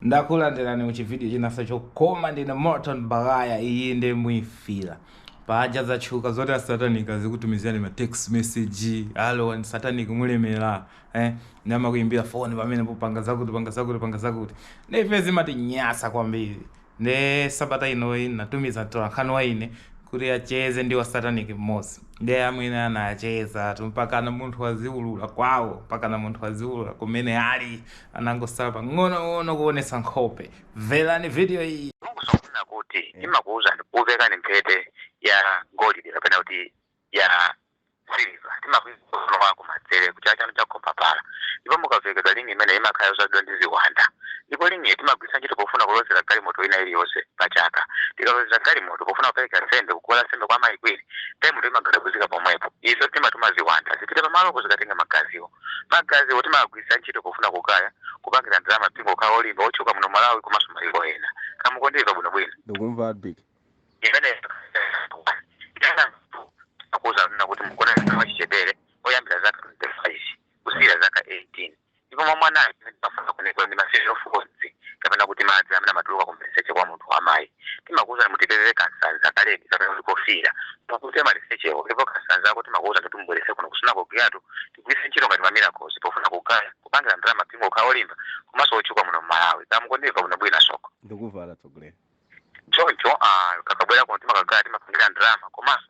Ndakulandirani ku chividiyo chinanso chokoma ndine Morton Baghaya iyi nde muifila paja zatchuka zoti asatanic azikutumizirani ma text message alo and satanic mulemera eh namakuimbira phone pamenepo panga zakuti panga zakuti panga zakuti nde ife zimatinyasa kwambiri nde sabata inoyi natumiza mtolankhani wa ine kuti acheze ndi wasatanic mmodzi nde amwene anachezatu mpakana munthu waziulula kwawo mpakana munthu waziulula kumene ali anangosala pang'onong'ono kuonetsa nkhope. Mverani vidiyo iyi. Mukuziwa kunena kuti timakuuzani kukuvekani mphete ya golide kapena kuti ya siliva timakuika mkono wakumanzere kuchala chanu cha mkombaphala ndipo mukavekedwa ling'i imeneyi imakhala yodzazidwa ndi ziwanda ndipo ling'iyi timagwiritsa ntchito pofuna kulozera galimoto ina iliyonse pa chaka tikalozera galimoto pofuna kupereka nsembe kuguwa la nsembe kwa mayi kwini galimoto imagadabuzika pomwepo izo timatuma ziwanda zipite pamalopo zikatenga magaziwo Magaziwo timawagwiritsa ntchito pofuna kugaya, kupangira ndalama mpingo ukhala wolimba, wotchuka muno Malawi komanso mayiko ena. Kaya mukundimva bwino bwino? Ndikumva Big. Imeneyo timakuuza kunena kuti mugona ndi mwana wachichepere oyambira zaka 25 kusiyira zaka 18 ndipo mwa mwanayo amene timafuna kunoko ndi ma sexual fluids kapena kuti madzi amene amatuluka kumaliseche kwa munthu wamayi timakuwuzani mutipezere kansanza ka ledi kapena kuti kofiira mupukute malisechewo ndipo kansanzako timakuwuza kuti mubweretse kuno ku sunagoge yathu tigwiritse ntchito ngati ma miracles pofuna kugaya kupangira ndalama mpingo ukhala olimba komanso otchuka muno mmalawi kaya mukundimva bwinobwino asoko ndikumva atsogoleri choncho ah, kakabwera kuno timakagaya timapangira ndalama komanso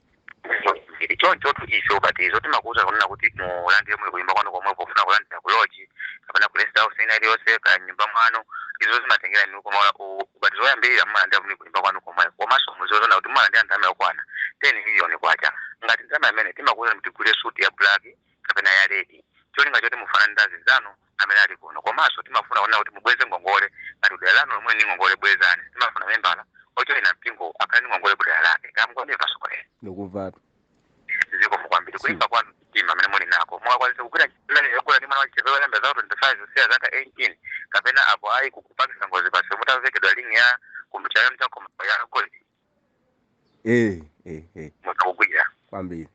zili chonchotu ife ubatizo timakuuza kunena kuti mulandire muli kunyumba kwanu komwe pofuna kulandira ku lodge kapena ku rest house ina iliyonse kaya mnyumba mwanu izo zimatengera inu koma u- ubatizo woyambirira mumalandira muli kunyumba kwanu komwe komanso muziona kuti mumalandira ndalama yokwana 10 miliyoni kwacha ngati ndalama imene timakuuza kuti mugule suti ya black kapena ya ledi cholinga choti mufanane ndi anzanu amene ali kuno komaso timafuna kunena kuti mubweze ngongole ngati kudera lanu lomwe ndi ngongole bwezani timafuna membala ojoyina mpingo akhale ndi ngongole kudera lake kaya mukundimva atsogoleri ndikumvatu zikomo kwambiri kulimba kwanu mtima amene muli nako mukwanisa kugwira ntchito imene yogona ndi mwana wachichepere oyambira zaka 25 kusiya zaka 18 kapena apo ayi kupangisa ngozi pasi mutavekedwa ling'i ya kumbuchaya mchakoma ya golidi eh eh eh nditha kugwira kwambiri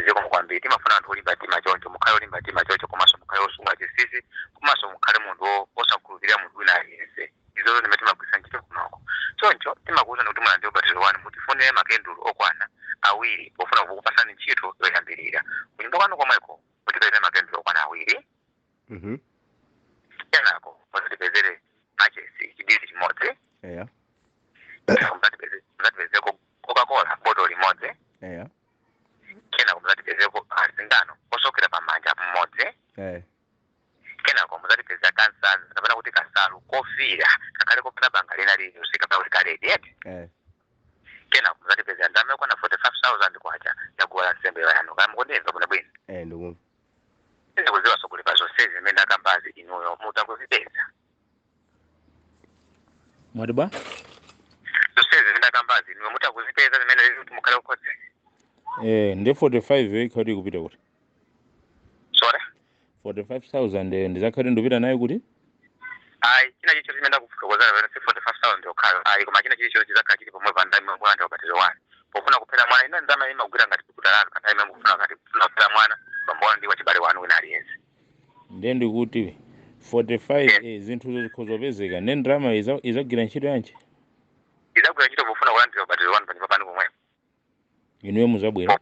zikomo kwambiri timafuna anthu olimba mtima choncho mukhale olimba mtima choncho komanso mukhale wosunga chinsinsi komanso mukhale munthu wo- wosakhulupirira munthu wina aliyense izozo ndi zimene timagwiritsa ntchito kunoko choncho timakuwuzani kuti mulandire ubatizo wanu mutifunire makandulo okwana awiri pofuna kukupatsani ntchito yoyambirira kunyumba kwanu komweko mutipezere makandulo okwana awiri Mhm. kenako muzatipezere machesi chidisi chimodzi Eya. kenako muzatipeze- muzatipezeko coca-cola boto limodzi Eya. kenako muzatipezeko asingano osokera pamanja mmodzi Eh. kenako muzatipezera kansalu kapena kuti kasalu kofira kakhale kopanda banga lina lililonse pa ulikaledi eti Eh. kenako muzatipezera ndalama yokwana 45000 kwacha ya guwa la nsembe yanu kaya mukundimva bwino bwino Eh, ndikumva. sindikuziwa asogoleri pazonsezi zimene ndakambazi inuyo mutha kuzipeza mwati bwa zonsezi zimene ndakambazi inuyo mutha kuzipeza zimene zili kuti mukhale kukhodzera eh, ndi 45 ikhala ikupita kuti sorry 45000 ndizakhala ndikupita nayo kuti ayi china chilichonse chimene ndakufotokozera pamene si 45000 yokhayo ayi koma china chilichonse chizakhala chili pomwepo ndalama mukulandira ubatizo wanu pofuna kuphera mwana ino ndalama imagwira ngati guwa lanu pa nthawi imene mukufuna ngati kufuna kuphera mwana pambuyo ndi wachibale wanu wina aliyense ndiye ndikuti 45 eh, zinthuzo zikhoza kupezeka ndiye ndalama iza- izagwira ntchito yanji izagwira ntchito pofuna kulandira ubatizo wanu panyumba panu pomwepo inuyo muzakhala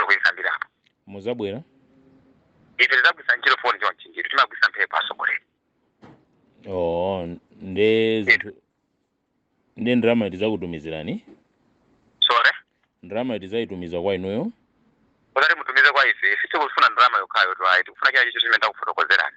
mukuyisambirapo muzabwera ife timagwisa ntchito foni chonchi ndithu timagwisa mphepo asogoleri oh nde ndalama tizakutumizirani sorry ndalama tizayitumiza kwa inuyo usati mutumize kwa ife sitikufuna ndalama yokhayotu ayi tikufuna china chilichonse chimene takufotokozerani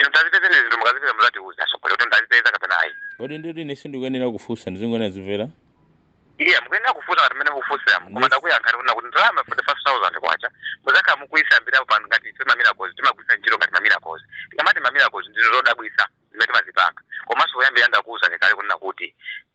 Inu kazipezeni zinthu mukazipeza muzatiuza asogoleri kuti ndazipeza kapena ayi. Kodi ndiye ine sindikuyenera kufunsa ndizingoyenera kumvera? Iya mukuyenera kufunsa ngati mmene mukufunsiramu koma Yes. ndakuyankhani kunena kuti ndalama 45,000 kwacha muzakhala mukuyisambirapo pano ngati ife mamirakozi timagwisa ntchito ngati mamirakozi tikamati mamirakozi ndi zodabwitsa zimene timazipanga komanso poyamba ndakuwuzani kale kunena kuti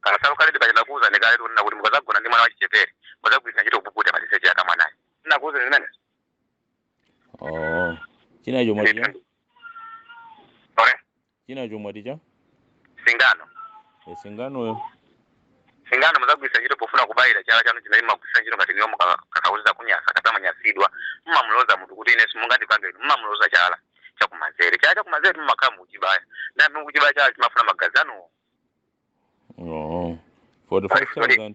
Kansalu karedi kaja ndakuuzani kale kunena kuti mukazagona ndi mwana wachichepere muzagwiritsa ntchito kupukuta maliseche ake a mwanayo. Ndakuuzani zimenezo. Oh. Chinacho mwati chani? Ndithu. Ore, Chinacho mwati chani? singano. E singanoyo. Singano muzagwiritsa ntchito pofuna kubayira chala chanu chimene mumagwiritsa ntchito ngati inuyo mukakwiyitsidwa kunyasa kapena mwanyasidwa. Mumamuloza munthu kuti ine simungandipange inu. Mumamuloza chala chakumanzere. Chala chakumanzere mumakhala mukuchibaya. Nde mukuchibaya chala timafuna magazi anuwo. Oh. 45,000.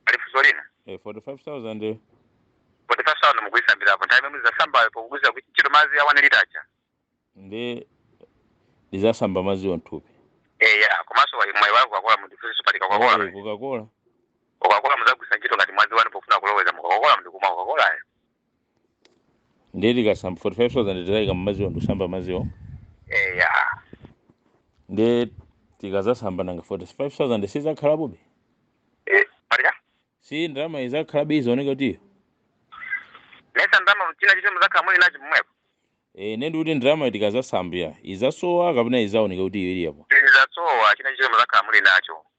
Pali funso lina. Eh, 45,000. eh. 45,000 mukuyisambirapo. Nthawi imene muzasambayo pogwiritsa ntchito madzi a one litre aja. Ndi ndizasamba madzi onthupi. Eh ya, komanso mwayiwala Coca-Cola mundifunse pa Coca-Cola. Eh, Coca-Cola. Coca-Cola muzagwisa ntchito ngati mwazi wanu pofuna kuloweza mu Coca-Cola ndikumwa Coca-Cola. ndiye tikasamba 45000 tizayika mmadziwo ndikusamba madziwo eya ndiye tikazasamba nanga 45000 sizakhalapobe Eh, paja si ndalama izakhalabe izaoneka kuti iyo nesa ndalama china chiti muzakhala muli nacho mmwepo e, ndiye ndikuti ndalama tikazasambira izasowa kapena izaoneka kuti iyo ili yapo tizasowa china chiti muzakhala muli nacho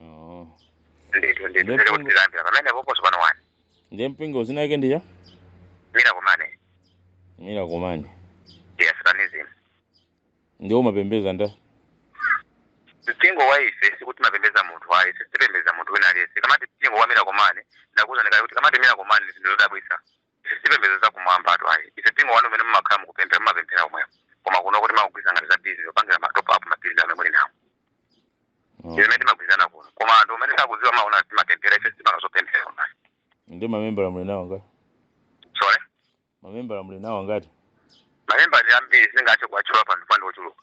Oh. ndithu ndithu Ndipo- ndiye kuti timalambira pamenepopo so pano ani Ndiye mpingo dzina lake ndi ya? mira kumani Mira kumani. yes Satanism Ndiye mumapembeza ndani? mpingo wa ife sikuti timapembeza munthu ayi sitipembeza munthu wina aliyense kamati mpingo wa mira kumani ndakuuzani kale kuti kamati mira kumani zinthu zodabwisa Sitipembedza za kumwambatu ayi ife mpingo wanu umene mumakhala mukupemphera mumapemphera umwewo koma kunoko timangogwirizana ngati za bizinesi zopangira ma top up ma build amene muli nawo Mm. imene timagwirizana kuno koma anthu umene sakudziwa amaona timapemphera ife sitipanga zopemphera koma Ndiye mamembala muli nawo angati? sorry Mamembala muli nawo angati? mamembala ndi ambiri singathe kuwatchula pano pano ochuluka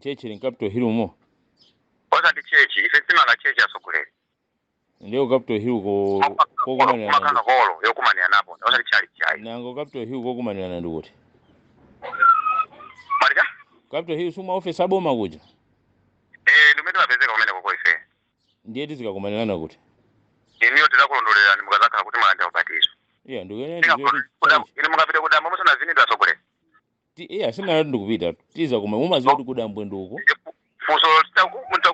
tchetchi ili mcapital hill umo osati tchetchi ife sitimanga tchetchi atsogoleri ndiye ku capital hill ko kokumanirana kumakhala ndi holo yokumanira napo osati tchalitchi ayi nanga capital hill kokumanirana ndi kuti malika capital hill si ma office aboma kuja eh ndi kumene timapezeka kumenekoko ife ndiye tizikakumanirana kuti inuyo tizakulondolerani mukazakhala kuti mwalandira ubatizo iya ndikuyenera Ndika- ndiziwe kuti kuda- tchalitchi ine mukapita kudambwe musanavinidwe atsogoleri Ti- iya sindinati ndikupita tiziti koma mumaziwa kuti kudambwe ndi uko funso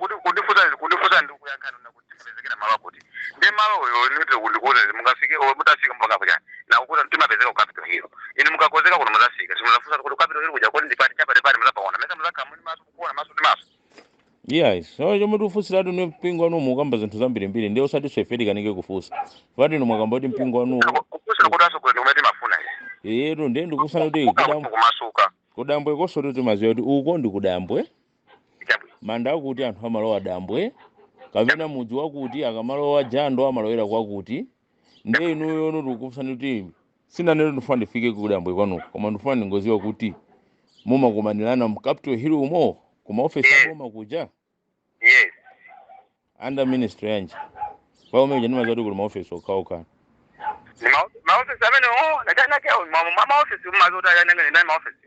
kuti kundifunsa kundifunsa ndi kuyankhana nawo kuti tipezekere malo akuti nde malowo nitire kundikuuza izi mukafike o mutafika mpaka apo kuja ndakuuzani timapezeka ku capital hill inu mukakozeka kuno muzafika simuzafunsa kuti ku capital hill kuja kodi ndi pati cha pati pati muzapaona mesa muzakhala muli maso kukuona maso ndi maso iyayi so chomwe tikufunsiratu ni mpingo wanu mukamba zinthu zambirimbiri ndiye osatinso ife tikanike kufunsa pati inu mwakamba kuti mpingo wanuwo kufunsa kuti atsogoleri kumene timafuna izi iyetu ndiye ndikufunsani kuti kudam- kudambwe kumasuka kudambwekonsotu timaziwa kuti uko ndi kudambwe chabwino manda akuti anthu amalowa dambwe kapena mudzi wakuti akamalowa jando amalowera kwakuti ndiye inuyo ndikukufunsani kuti sindinanene ndifuna ndifike kudambwe kwanuko koma ndifuna ndingoziwa kuti mumakumanirana mu capital hill umo ku maofesi Yes. aboma kuja yes under ministry yanji pajatu ndimaziwa kuti kuli maofesi okhaokha Ni ma- maofisi amene o ndi ena ake mwa maofisi mumazoti ayanenge ndinali maofisi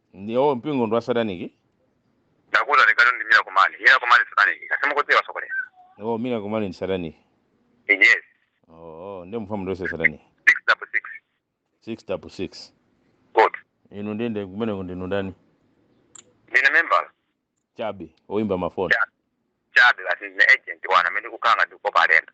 ndiye mpingo ndi wa satanic ndakuuzani kale ndi mira kumani mira kumani satanic kodi simukudziwa atsogoleri oh mira kumani ndi satanic yes oh oh nde mfumu ndi wa satanic 6 double 6 6 double 6 good inu ndiye kumeneko ndinu ndani ndine member chabe oyimba mafoni chabe basi ndine agent wawo amene ndikukhala ndikukopa alendo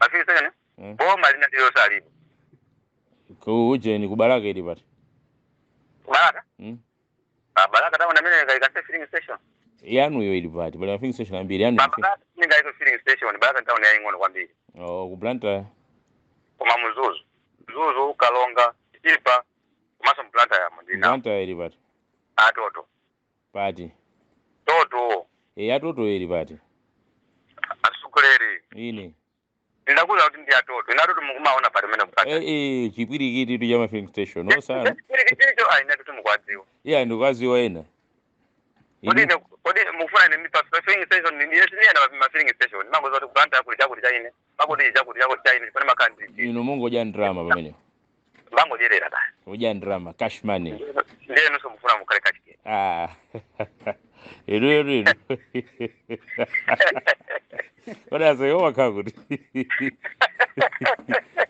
ma filling station Mm. boma linanji losalipo ku ujeni kubalaka ili pati kubalaka Mm. kubalaka tauni mene mungaike filling station yanuyo ili pati pali ma filling station ambiri yanu balaka mungaike filling station balaka town yaying'ono kwambiri oh, ku blantyre koma muzuzu muzuzu kalonga chipa komanso m'blantyre yamo ndina blantyre ili pati atoto pati toto e atoto eri pati atsogoleri ine ndakuuza kuti ndi atoto ine atoto mukumaona pati mene kupata e, e, chipwirikiti tu cha mafilling station osanena chipwirikiticho aine kuti mukwadziwa iya ndikukaziwa ena kodi ine kodi mukufuna ine mipa filling station ndine sindiyenda pa ma filling station mungoza kuti kublantyre kuli chakuti chaine pakuti chakuti chakuti chaine chifuna makhanditi ino mungodya ndrama pamenepo Bangodyerera basi. Uja ndalama cash money. Ndiye inunso mufuna mukhale kachikena. Ah. Inu inu inu. Kodi aseyo wakhala kuti?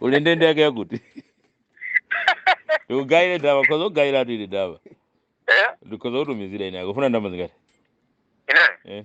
Uli ndende yake yakuti? Ugayire ndalama ndikhoza kugayiratu ili ndalama. Eh? Ndikhoza kutumizira ine akufuna ndalama zingati? Ine? Eh.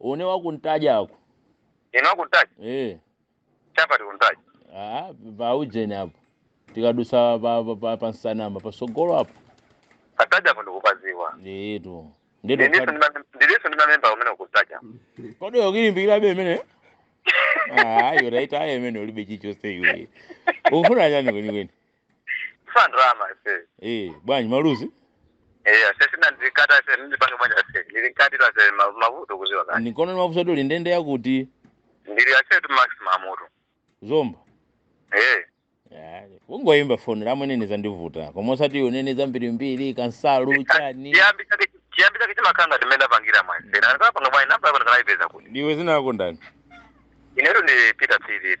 Une wakuntaja ako. Inu akuntaja? Eh. Chapa tikuntaja. Ah, pa ujeni apo. Tikadusa pa pa pa, pa nsanama pa sogolo apo. Kuntaja apo ndikupadziwa. Nditu. Nditu. Ndiliso ndi mamemba omwe kuntaja. Kodi ukilimbikira be imene? Ah, yuraita aye imene ulibe chichose iwe. Ufuna chani kweni kweni? Kufuna ndalama ase. Eh, bwanji maluzi? Eh, ase sina ndikata ase ndipange bwanji ase. Ndili nkati la ase ma- mavuto kuziwa kani. Ndikono mavuto uli ndende yakuti Ndili ase tu maximum mutu. zomba. Eh. Ah, Ungoyimba foni lamwenewe zandivuta. Koma osati unene zambirimbiri kansalu chani. Chiyambi chake chiyambi chake chimakanga timenda pangira mwa ese. Na ndikapanga bwanji namba yako ndikalaipeza kuti. Ndiwe dzina lako ndani? Inetu ndi Peter Philip.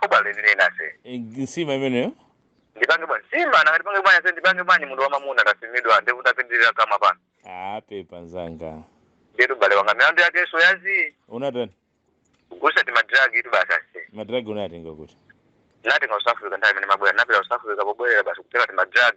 Thobwa lenileni ase. e Nsima imeneyo. Ndipange bwanji? Nsima nanga ndipange bwanji ase ndipange bwanji munthu wamamuna ndasimidwa ndevu zapindira kamwa pano. Aaa pepa nzanga. Ndiyetu bale wanga milandu yakenso ya zii. Unatani? Kugulisa ti madrag itu basi ase. Madrag unayatenga kuti? Ndinatenga ku South Africa nthawi imene ndimabwera ndinapita ku South Africa pobwerera basi kutenga ti madrag.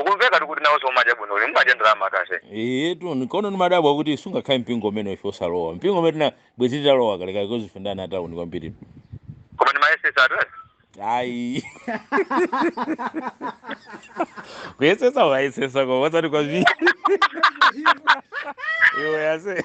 Ukumvekatu kuti nawonso mumadya bwino mumadya ndalama cash. Eyetu nkono ndimadabwa kuti sungakhale mpingo umene ife osalowa mpingo umene tina bwezi titalowa kale kale kozi ife ndi ana atauni kwambiri Koma ndimayesesa atu eh. ayi kuyesesa wayesesa koma osati kwambiri iwe ase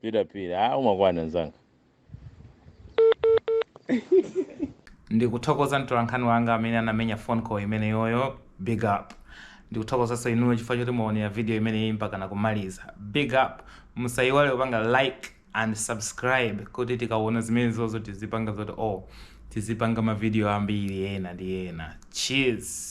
pita pira ah, umakwana nzanga ndikuthokoza mtolankhani wanga amene anamenya phone call imeneyoyo big up ndikuthokozanso inuyo chifukwa choti mwaonera video imeneyi mpaka nakumaliza big up musayiwale kupanga like and subscribe kuti tikaona zimenezozo tizipanga zoti oh tizipanga mavidiyo ambiri ena ndi ena cheers